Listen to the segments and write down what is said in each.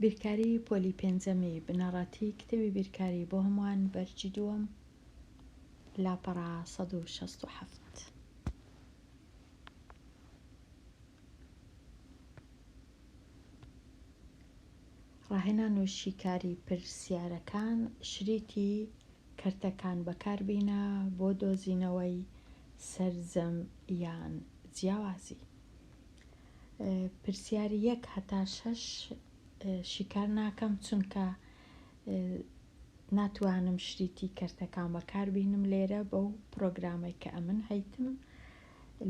بیرکاری پۆلی پێنجەمی بنەڕەتی کتێبی بیرکاری بۆ هەمووان بەرگی دووەم لاپەڕە سەد و شەست و حەفت ڕاهێنان و شیکاری پرسیارەکان شریتی کەرتەکان بەکاربینە بۆ دۆزینەوەی سەرجەم یان جیاوازی پرسیار یەک هەتا شەش شیکار ناکەم چونکە ناتوانم شریتی کەرتەکان بەکاربینم لێرە بەو پرۆگرامەی کە ئەمن هەیتم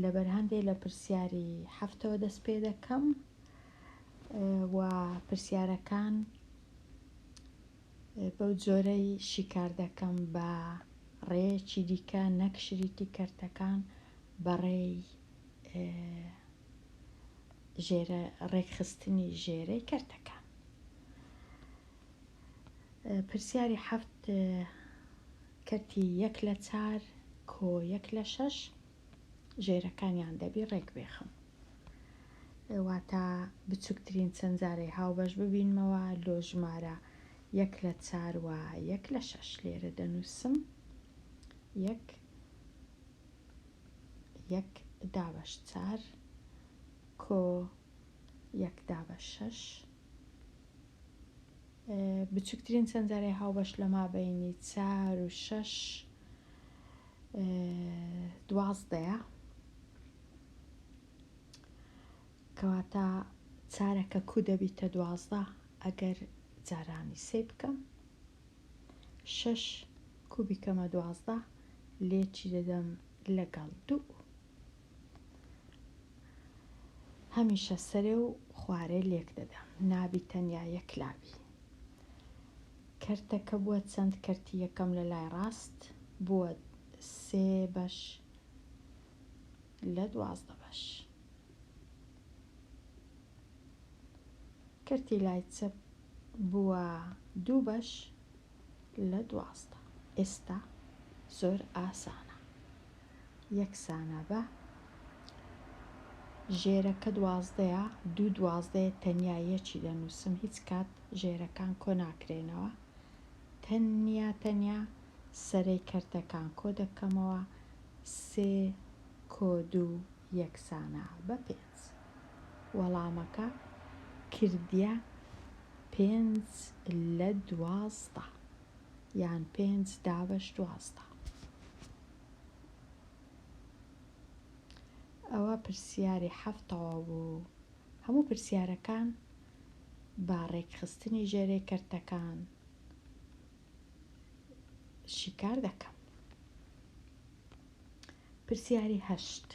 لەبەر هەندێ لە پرسیاری هەفتەوە دەست پێ دەکەم و پرسیارەکان بەو جۆرەی شیکار دەکەم بە ڕێیەکی دیکە نەک شریتی کەرتەکان بەڕێی ژێرە ڕێکخستنی ژێرەی کەرتەکان پرسیاری حەفت کەرتی یەک لە چار کۆ یەک لە شەش ژێرەکانیان دەبی ڕێک بێخم واتا بچوکترین چەند جارەی هاوبەش ببینمەوە لۆ ژمارە یەک لە چار و یەک لە شەش لێرە دەنووسم یەک یەک دابەش چار کۆ یەک دابە شەش بچوکترین سەنجەرەی هاوبەش لە مابەینی چار و شەش دوازدەیە کەواتە چارەکە کو دەبیتە دوازدە ئەگەر جارانی سێ بکەم شەش کو بیکەمە دوازدە لێکی دەدەم لەگەڵ دوو هەمیشە سەرێ و خوارێ لێک دەدەم نابی تەنیا یەک لابی کەرتەکە بووە چەند کەرتی یەکەم لە لای ڕاست بووە سێ بەش لە دوازدە بەش کەرتی لای چەپ بووە دوو بەش لە دوازدە. ئێستا زۆر ئاسانە یەکسانە بە ژێرە کە دوازدەیە دوو دوازدەیە تەنیا یەکی دەنووسم هیچ کات ژێرەکان کۆ ناکرێنەوە تەنیا تەنیا سەرەی کەرتەکان کۆ دەکەمەوە سێ کۆ دوو یەکسانە بە پێنج پێنج وەڵامەکە کردیە پێنج لە دوازدە یان پێنج دابەش دوازدە ئەوە پرسیاری حەفتەوە بوو هەموو پرسیارەکان با ڕێکخستنی ژێرەی کەرتەکان شیکار دەکەم پرسیاری هەشت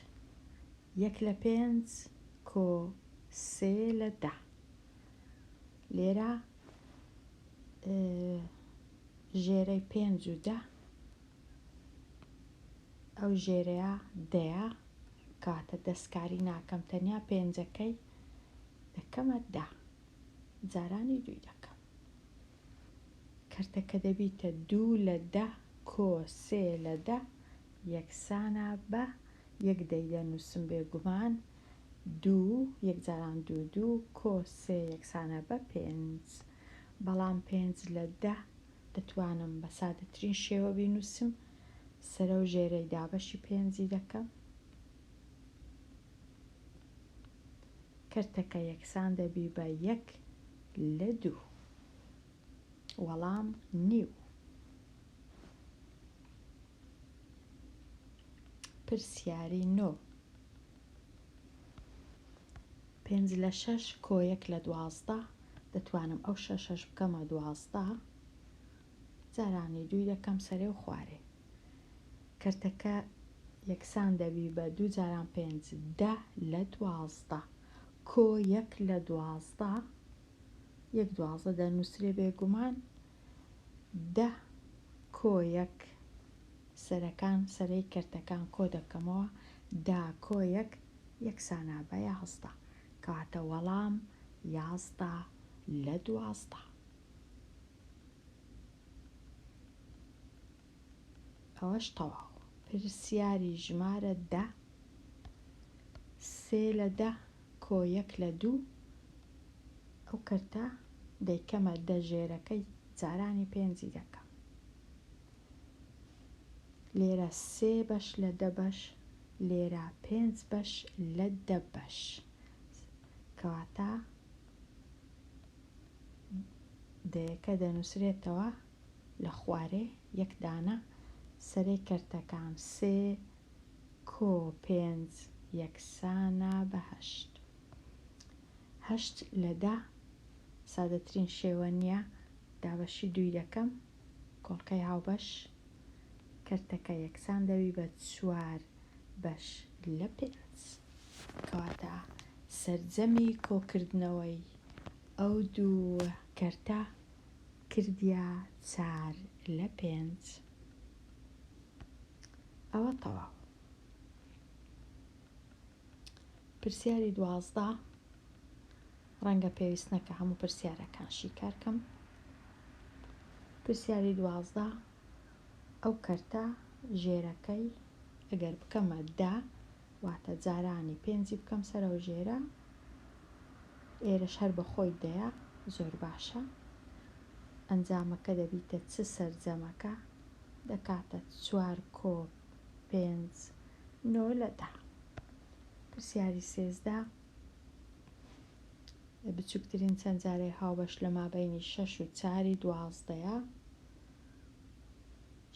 یەک لە پێنج کۆ سێ لە دە. لێرە ژێرەی پێنج و دە ئەو ژێرەیە دەیە کاتە دەستکاری ناکەم تەنیا پێنجەکەی دەکەمە دە جارانی دووی دەکەم کەرتەکە دەبیتە دوو لە دە کۆ سێ لە دە یەکسانە بە یەک دەی دەنووسم بێگومان دوو یەک جاران دوو دوو کۆ سێ یەکسانە بە پێنج بەڵام پێنج لە دە دەتوانم بە سادەترین شێوە بینووسم سەرە و ژێرەی دابەشی پێنجی دەکەم کەرتەکە یەکسان دەبی بە یەک لە دوو وەڵام نیو پرسیاری نۆ. پێنج لە شەش کۆ یەک لە دوازدە دەتوانم ئەو شەشەش بکەمە دوازدە جارانی دووی دەکەم سەرێ و خوارێ کەرتەکە یەکسان دەبی بە دوو جاران پێنج دە لە دوازدە کۆ یەک لە دوازدە یەک دوازدە دەنووسرێ بێگومان دە کۆیەک سەرەکان سەرەی کەرتەکان کۆ دەکەمەوە دا کۆیەک یەکسانە بە یازدە کەواتە وەڵام یازدە لە دوازدە. ئەوەش تەواو پرسیاری ژمارە دە سێ لە دە کۆ یەک لە دوو ئەو کەرتە دەیکەمە دە ژێرەکەی جارانی پێنجی دەکەم لێرە سێ بەش لە دە بەش لێرە پێنج بەش لە دە بەش کەواتە دەیەکە دەنووسرێتەوە لە خوارێ یەک دانە سەرەی کەرتەکان سێ کۆ پێنج یەکسانە بە هەشت هەشت لە دە سادەترین شێوە نییە دابەشی دووی دەکەم کۆڵکەی هاوبەش کەرتەکە یەکسان دەبی بە چوار بەش لە پێنج کەواتە سەرجەمی کۆکردنەوەی ئەو دوو کەرتە کردیە چار لە پێنج ئەوە تەواو پرسیاری دوازدە ڕەنگە پێویست نەکە هەموو پرسیارەکان شیکارکەم پرسیاری دوازدە ئەو کەرتە ژێرەکەی ئەگەر بکەمە دا واتە جارانی پێنجی بکەم سەرەو ژێرە ئێرەش هەر بە خۆی دەیە زۆر باشە ئەنجامەکە دەبیتە چ سەرجەمەکە دەکاتە چوار کۆپ پێنج نۆ لە دە پرسیاری سێزدە بچووکترین چەند جارەی هاوبەش لە مابینی شەش و چاری دوازدەیە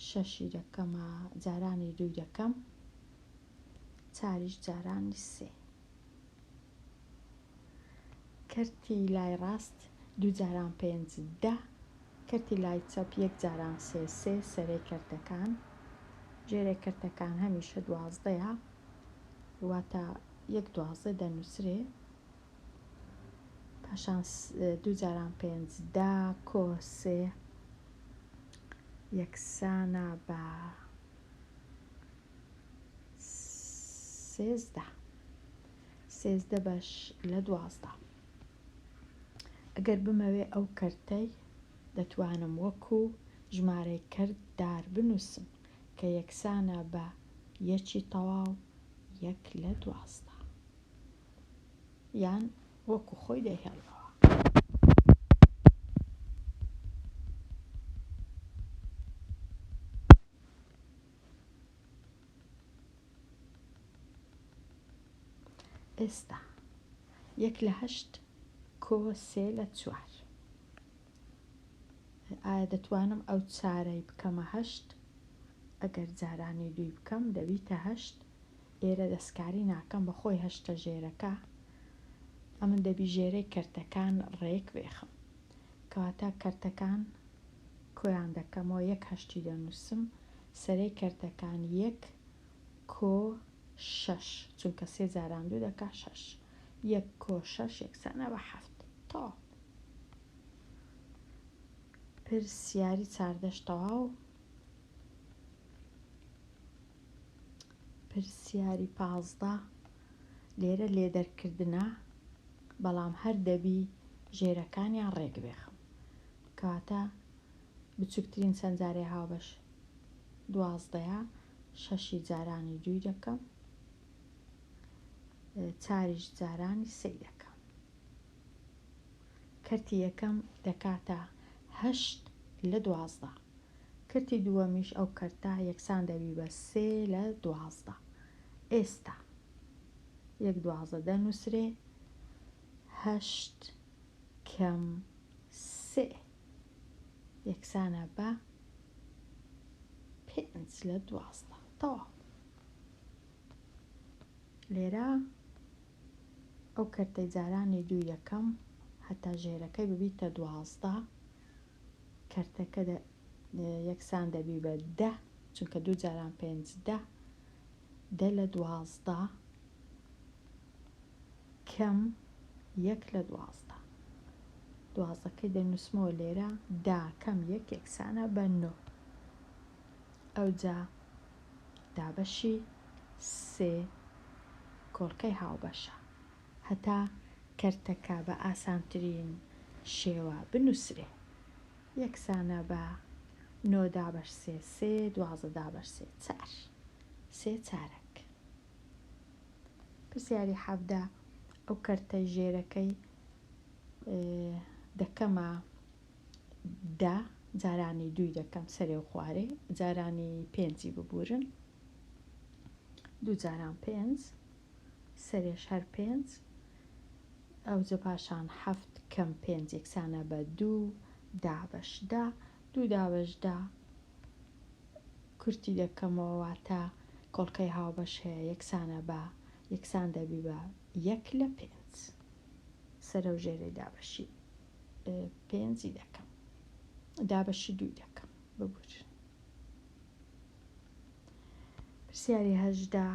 شەشی دەکەمە جارانی دووی دەکەم چاریش جارانی سێ. کەرتی لای ڕاست دوو جاران پێنج دە. کەرتی لای چەپ یەک جاران سێ سێ سەرەی کەرتەکان. ژێرەی کەرتەکان هەمیشە دوازدەیە واتە یەک دوازدە دەنووسرێ پاشان دوو جاران پێنج دا کۆ سێ یەکسانە بە سێزدە سێزدە بەش لە دوازدە ئەگەر بمەوێ ئەو کەرتەی دەتوانم وەکو ژمارەی کەرت دار بنووسم کە یەکسانە بە یەکی تەواو یەک لە دوازدە یان وەکو خۆی دەهێڵەوە ئێستا یەک لە هەشت کۆ سێ لە چوار ئایا دەتوانم ئەو چارەی بکەمە هەشت ئەگەر جارانی دووی بکەم دەبیتە هەشت ئێرە دەستکاری ناکەم بە خۆی هەشتە ژێرەکە ئەمن دەبی ژێرەی کەرتەکان ڕێک بێخم کەواتە کەرتەکان کۆیان دەکەمەوە یەک هەشتی دەنووسم سەرەی کەرتەکان یەک کۆ شەش چونکە سێ جاران دوو دەکا شەش یەک کۆ شەش یەکسانە بە حەفت تەواو پرسیاری چاردەش تەواو پرسیاری پازدە لێرە لێدەرکردنە بەڵام هەر دەبی ژێرەکانیان ڕێک بێخم کەواتە بچووکترین چەند جارێ هاوبەش دوازدەیە شەشی جارانی دووی دەکەم چاریش جارانی سەی دەکەم کەرتی یەکەم دەکاتە هەشت لە دوازدە کەرتی دووەمیش ئەو کەرتە یەکسان دەبی بە سێ لە دوازدە ئێستا یەک دوازدە دەنووسرێ هەشت کەم سێ یەکسانە بە پێنج لە دوازدە تەواو لێرە ئەو کەرتەی جارانی دوو یەکەم هەتا ژێرەکەی ببیتە دوازدە کەرتەکە دە یەکسان دەبی بە دە چونکە دوو جاران پێنج دە دە لە دوازدە کەم یەک لە دوازدە دوازدەکەی دەنووسمەوە لێرە دا کەم یەک یەکسانە بە نۆ ئەوجا دابەشی سێ کۆڵکەی هاوبەشە هەتا کەرتەکە بە ئاسانترین شێوە بنووسرێ یەکسانە بە نۆ دابەش سێ سێ دوازدە دابەش سێ چار سێ چارەک. پرسیاری حەڤدە، ئەو کەرتە ژێرەکەی دەکەمە دە، جارانی دووی دەکەم سەرێ و خوارێ، جارانی پێنجی ببوورن، دوو جاران پێنج. سەرێش هەر پێنج ئەوجە پاشان حەفت کەم پێنج یەکسانە بە دوو دابەش دە دوو دابەش دە کورتی دەکەمەوە واتە کۆڵکەی هاوبەش هەیە یەکسانە بە یەکسان دەبی بە یەک لە پێنج سەرەو ژێرەی دابەشی پێنجی دەکەم دابەشی دووی دەکەم ببورن پرسیاری هەژدە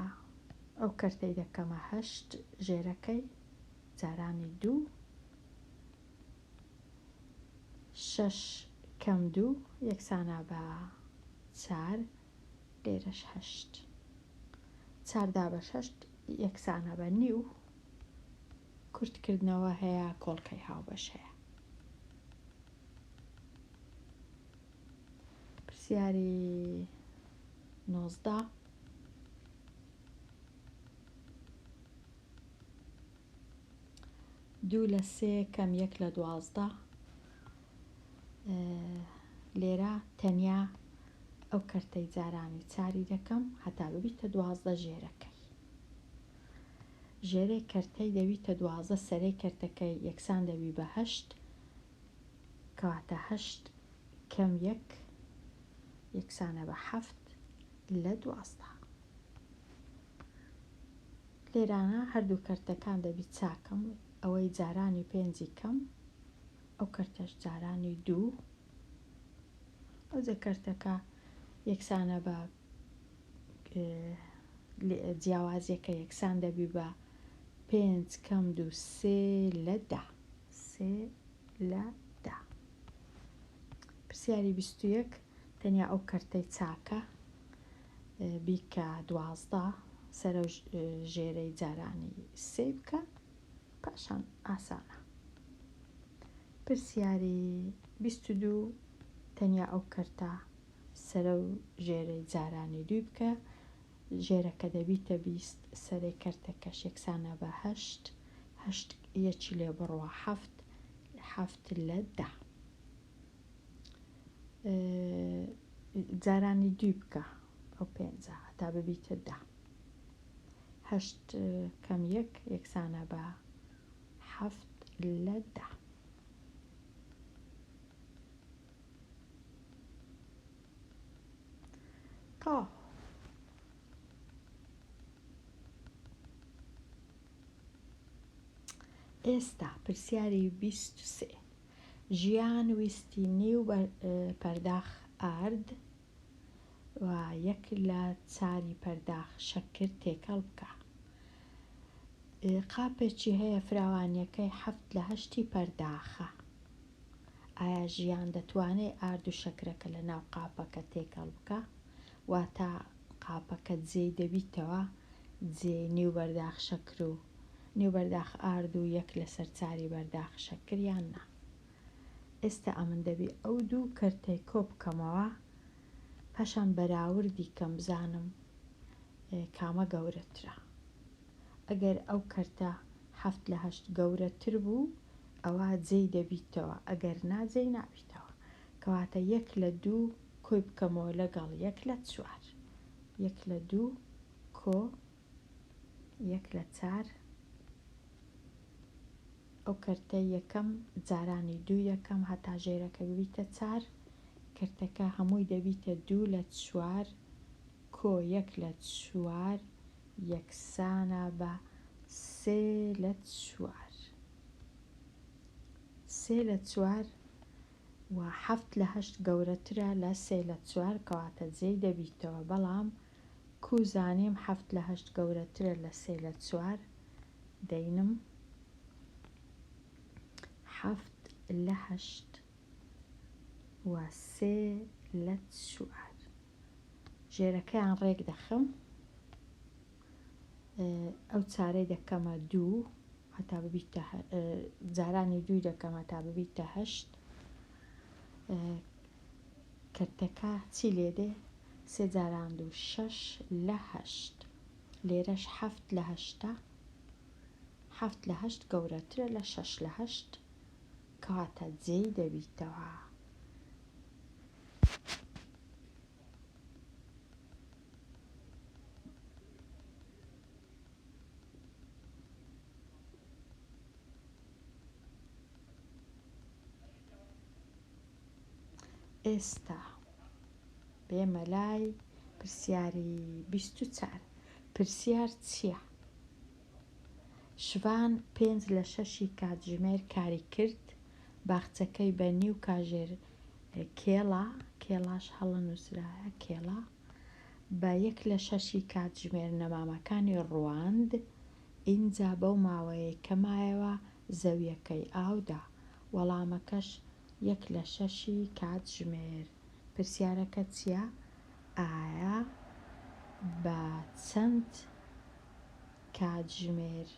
ئەو کەرتەی دەکەمە هەشت ژێرەکەی جارانی دوو شەش کەم دوو یەکسانە بە چار لێرەش هەشت چاردا بە شەشت یەکسانە بە نیو کورتکردنەوە هەیە کۆڵکەی هاوبەش هەیە پرسیاری نۆزدە دوو لە سێ کەم یەک لە دوازدە لێرە تەنیا ئەو کەرتەی جارانی چاری دەکەم هەتا ببیتە دوازدە ژێرەکەی ژێرەی کەرتەی دەویتە دوازە سەرەی کەرتەکەی یەکسان دەوی بەهشت کەواتە هەشت کەم یەک یەکسانە بە حەفت لە دوازدە. لێرانە هەردوو کەرتەکان دەبی چاکم ئەوەی جارانی پێنجی کەم ئەو کەرتەش جارانی دوو ئەوجە کەرتەکە یەکسانە بە جیاوازیەکە یەکسان دەبی بە پێنج کەم دوو سێ لە دا. سێ لە دە. پرسیاری بیست و یەک، تەنیا ئەو کەرتەی چاکە بیکە دوازدە سەرە و ژێرەی جارانی سێ بکە پاشان ئاسانە. پرسیاری بیست و دوو، تەنیا ئەو کەرتە سەرە و ژێرەی جارانی دووی بکە ژێرە کە دەبیتە بیست سەرێ کەرتەکەش یەکسانە بە هەشت هەشت یەکی لێ بڕە حەفت حەفت لە دە جارانی دوی بکە ئەو پێنجە هەتا ببیتە دە هەشت کەم یەک یەکسانە بە حەفت لە دە تا ئێستا پرسیاری بیست و سێ ژیان ویستی نیو پەرداخ ئارد و یەک لە چاری پەرداخ شەکر تێکەڵ بکە قاپێکی هەیە فراوانیەکەی حەفت لە هەشتی پەرداخە ئایا ژیان دەتوانێ ئارد و شەکرەکە لە ناو قاپەکە تێکەڵ بکا؟ واتە قاپەکە جێی دەبیتەوە، جێ نێو بەرداخ شەکر و نێو بەرداخ ئارد و یەک لە سەر چاری بەرداخ شەکر یان نا؟ ئێستا ئەمن دەبی ئەو دوو کەرتەی کۆ بکەمەوە پاشان بەراوردی کەم بزانم کامە گەورەترە. ئەگەر ئەو کەرتە حەفت لە هەشت گەورەتر بوو ئەوا جێی دەبیتەوە ئەگەر نا جێی نابیتەوە کەواتە یەک لە دوو کۆی بکەمەوە لەگەڵ یەک لە چوار یەک لە دوو کۆ یەک لە چار ئەو کەرتە یەکەم جارانی دوو یەکەم هەتا ژێرەکە ببیتە چار کەرتەکە هەمووی دەبیتە دوو لە چوار کۆ یەک لە چوار یەکسانە بە سێ لە چوار. سێ لە چوار و حەفت لە هەشت گەورەترە لە سێ لە چوار کەواتە جێی دەبیتەوە بەڵام کوو زانیم حەفت لە هەشت گەورەترە لە سێ لە چوار دەینم حەفت لە هەشت و سێ لە چوار. ژێرەکەیان ڕێک دەخەم ئەو چارەی دەکەمە دوو هەتا ببیت جارانی دوو دەکەم هەتا ببیت تە هەشت کردەکە چی لێ دێ سێ جاران دوو شەش لە هەشت لێرەش حەفت لە هەشتا حەفت لە هەشت گەورەترە لە شەش لە هەشت کەواتە جێی دەبیتەوە ئێستا بێمە لای پرسیاری بیست و چار پرسیار چییە؟ شڤان پێنج لە شەشی کاتژمێر کاری کرد، باخچەکەی بە نیو کاژێر کێڵا، کێڵاش هەڵە نووسرایە کێڵا، بە یەک لە شەشی کاتژمێر نەمامەکانی ڕواند، ئینجا بەو ماوەیەی کە مایەوە زەوییەکەی ئاو دا. وەڵامەکەش یەک لە شەشی کاتژمێر. پرسیارەکە چییە؟ ئایە بە چەند. کاتژمێر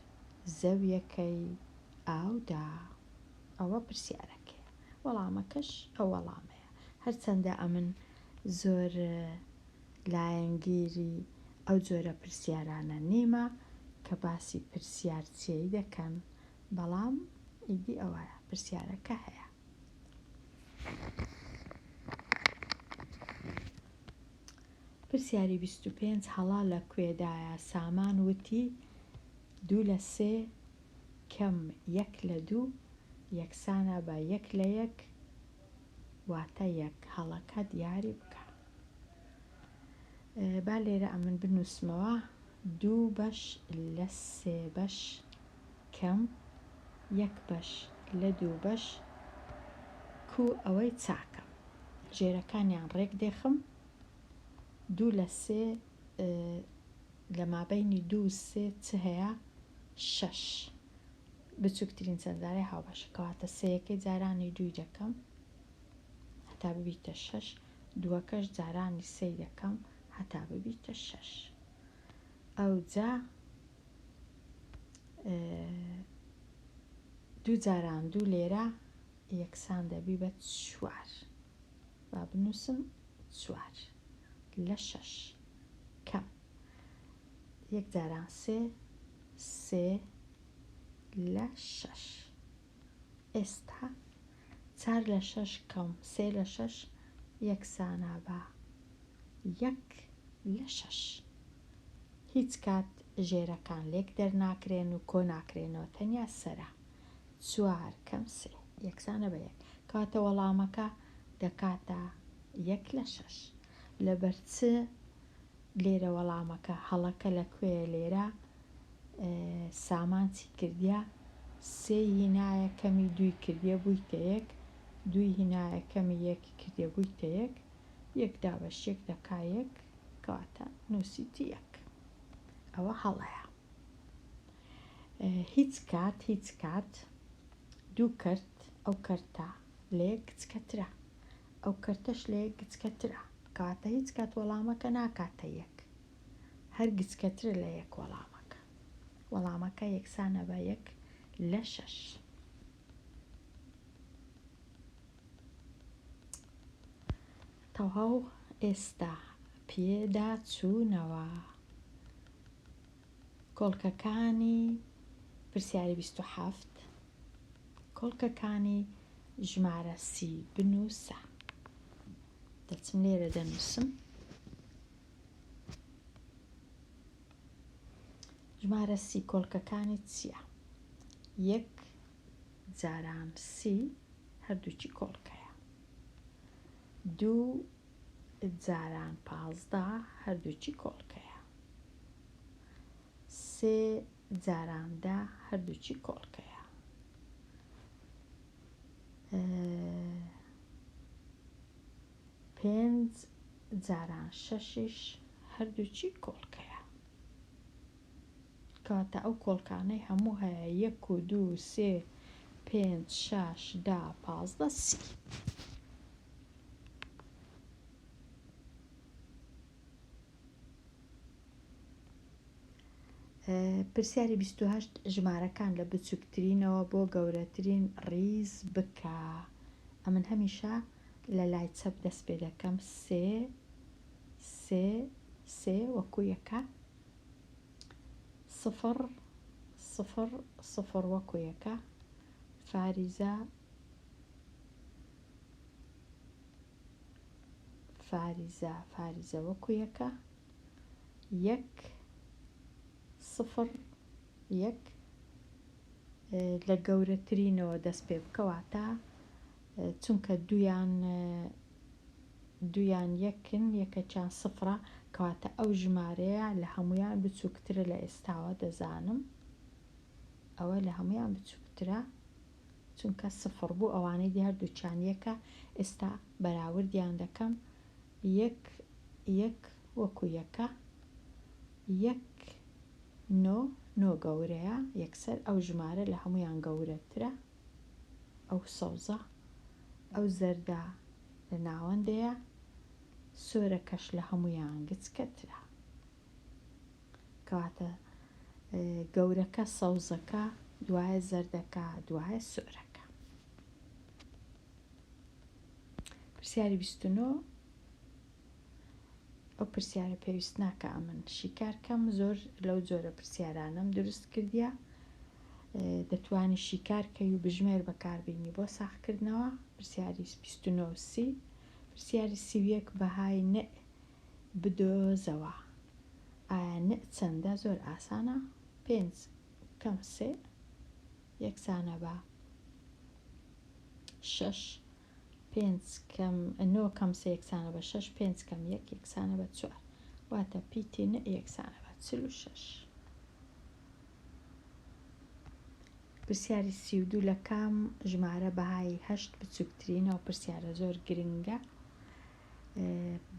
زەویەکەی ئاودا؟ ئەوە پرسیارەکەیە، وەڵامەکەش ئەو وەڵامەیە، هەرچەندە ئەمن زۆر لایەنگیری ئەو جۆرە پرسیارانە نیمە کە باسی پرسیار چیی دەکەن، بەڵام ئیدی ئەوە پرسیارەکە هەیە. پرسیاری بیست و پێنج هەڵا لە کوێدایە؟ سامان وتی، دوو لە سێ کەم یەک لە دوو یەکسانە بە یەک لە یەک واتە یەک. هەڵەکە دیاری بکە. با لێرە ئەمن بنووسمەوە، دوو بەش لە سێ بەش کەم یەک بەش لە دوو بەش کوو ئەوەی چاکە. ژێرەکانیان ڕێک دێخم دوو لە سێ لە مابەینی دوو سێ چ هەیە شەش بچووکترین چەندزارەی هاوبەشە کەواتە سەیەکەی جارانی دووی دەکەم هەتا ببیتە شەش دووەکەش جارانی سەی دەکەم هەتا ببیتە شەش ئەو جا دوو جاران دوو لێرە یەکسان دەبی بە چوار با بنووسم چوار لە شەش کەم یەک جاران سێ سێ لە شەش ئێستا چار لە شەش کەم سێ لە شەش یەکسانە بە یەک لە شەش هیچ کات ژێرەکان لێک دەرناکرێن و کۆ ناکرێنەوە تەنیا سەرە چوار کەم سێ یەکسانە بە یەک کەواتە وەڵامەکە دەکاتە یەک لە شەش لەبەر چ لێرە وەڵامەکە هەڵەکە لە کوێ لێرە سامان چی کردە سێ هینایە کەمی دوی کردە بوویتە یەک دوی هینایە کەمی یەکی کردە بوویتە یەک یەک دابەش یەک دەکا یەک کەواتە نووسیتی یەک ئەوە هەڵەیە هیچ کات هیچ کات دوو کەرت ئەو کەرتە لە یەک گچکەترە ئەو کەرتەش لە یەک گچکەترە کەواتە هیچ کات وەڵامەکە ناکاتە یەک هەر گچکەترە لە یەک وەڵامەکە وەڵامەکە یەکسانە بە یەک لە شەش تەواو ئێستا پێدا چوونەوە کۆڵکەکانی پرسیاری بیست و حەفت کۆڵکەکانی ژمارە سی بنووسە دەچم لێرە دەنووسم ژمارە سی کۆلکەکانی چییە یەک جاران سی هەردووکی کۆڵکەیە دوو جاران پازدە هەردووکی کۆڵکەیە. سێ جاران دە هەردووکی کۆڵکەیە. پێنج جاران شەشیش هەردووکی کۆڵکەیە. کاتە ئەو کۆڵکانەی هەموو هەیە یەک و دوو سێ پێنج شاش دا پازدە سی پرسیاری بیست و هەشت ژمارەکان لە بچووکترینەوە بۆ گەورەترین ڕیز بکە ئەمن هەمیشە لە لای چەپ دەست پێ دەکەم سێ سێ سێ وەکو یەکە سفڕ سفڕ سفڕ وەکو یەکە فاریزە فاریزە فاریزە وەکو یەکە یەک سفڕ یەک لە گەورەترینەوە دەست پێ بکەوە تا چونکە دویان دوویان یەکن، یەکەکیان سفرە، کەواتە ئەو ژمارەیە لە هەموویان بچووکترە لە ئێستاوە، دەزانم ئەوە لە هەموویان بچووکترە، چونکە سفر بوو، ئەوانەی دی هەردووکیان یەکە، ئێستا بەراوردیان دەکەم، یەک، یەک وەکو یەکە، یەک، نۆ، نۆ گەورەیە، یەکسەر ئەو ژمارە لە هەموویان گەورەترە. ئەو سەوزە ئەو زەردە لە ناوەندەیە سۆرەکەش لە هەمویان گچکەترە کەواتە گەورەکە سەوزەکە دوایە زەردەکە دوایە سۆرەکە پرسیاری 29 ئەو پرسیارە پێویست ناکە ئەمن شیکار کەم زۆر لەو جۆرە پرسیارانەم دروست کردیا دەتوانی شیکارکەی و بژمێر بەکاربیینی بۆ ساخکردنەوە پرسیاری 29 پرسیاری سیویەک بەهای نئ بدۆزەوە ئایا نئ چەندە زۆر ئاسانە پێنج کەم سێ یەکسانە بە شەش پێنج کەم نۆ کەم سێ یەکسانە بە شەش پێنج کەم یەک یەکسانە بە چوار واتە پیتی نە یەکسانە بە چل و شەش پرسیاری سی و دوو لە کام ژمارە بەهای هەشت بچووکترینە و پرسیارە زۆر گرنگە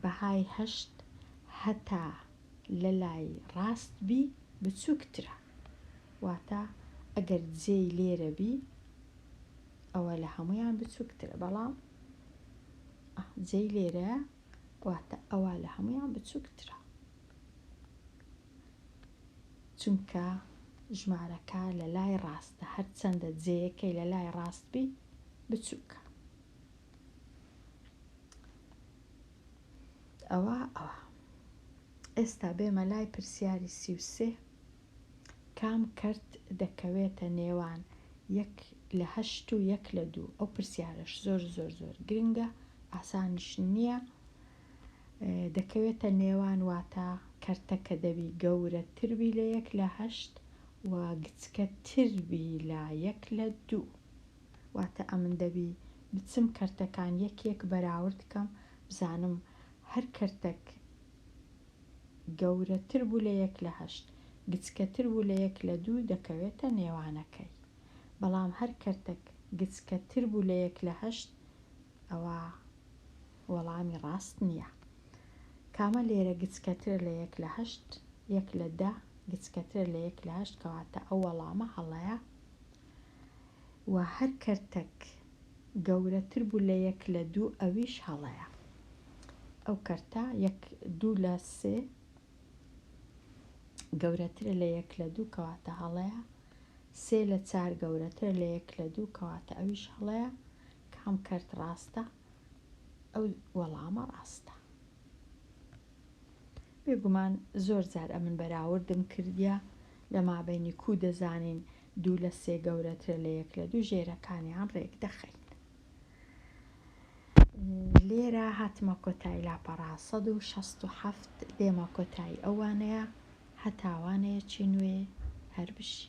بەهای هەشت هەتا لە لای ڕاست بی بچووکترە واتە ئەگەر جێی لێرە بی ئەوە لە هەمویان بچووکترە بەڵام جێی لێرە واتە ئەوە لە هەمویان بچووکترە چونکە ژمارەکە لە لای ڕاستە هەرچەندە جێیەکەی لە لای ڕاست بی بچووکە ئەوە ئەوە ئێستا بێمە لای پرسیاری سیوسێ کام کەرت دەکەوێتە نێوان یەک لە هەشت و یەک لە دوو؟ ئەو پرسیارەش زۆر زۆر زۆر گرنگە، ئاسانیش نییە. دەکەوێتە نێوان واتە کەرتەکە دەبی گەورەتر بی لە یەک لە هەشت و گچکەتر بی لە یەک لە دوو. واتە ئەمن دەبی بچم کەرتەکان یەک یەک بەراورد کەم بزانم هەر کەرتەک، گەورەتر بوو لە یەک لە هەشت، گچکەتر بوو لە یەک لە دوو دەکەوێتە نێوانەکەی. بەڵام هەر کەرتەک گچکەتر بوو لە یەک لە هەشت ئەوا وەڵامی ڕاست نییە. کامە لێرە گچکەترە لە یەک لە هەشت؟ یەک لە دە گچکەترە لە یەک لە هەشت کەواتە ئەو وەڵامە هەڵەیە و هەر کەرتەک گەورەتر بوو لە یەک لە دوو ئەویش هەڵەیە ئەو کەرتە یەک دوو لە سێ گەورەترە لە یەک لە دوو کەواتە هەڵەیە سێ لە چار گەورەتر لە یەک لە دوو کەواتە ئەویش هەڵەیە کام کەرت ڕاستە ئەو وەڵامە ڕاستە بێگومان زۆر جار ئەمن بەراوردم کردیا لە مابینی کو دەزانین دوو لە سێ گەورەترە لە یەک لە دوو ژێرەکانیان ڕێک دەخەین لێرە هاتمە کۆتایی لاپەڕا 1970 دێمە کۆتایی ئەوانەیە هەتاوانەیە چی نوێ هەر بشی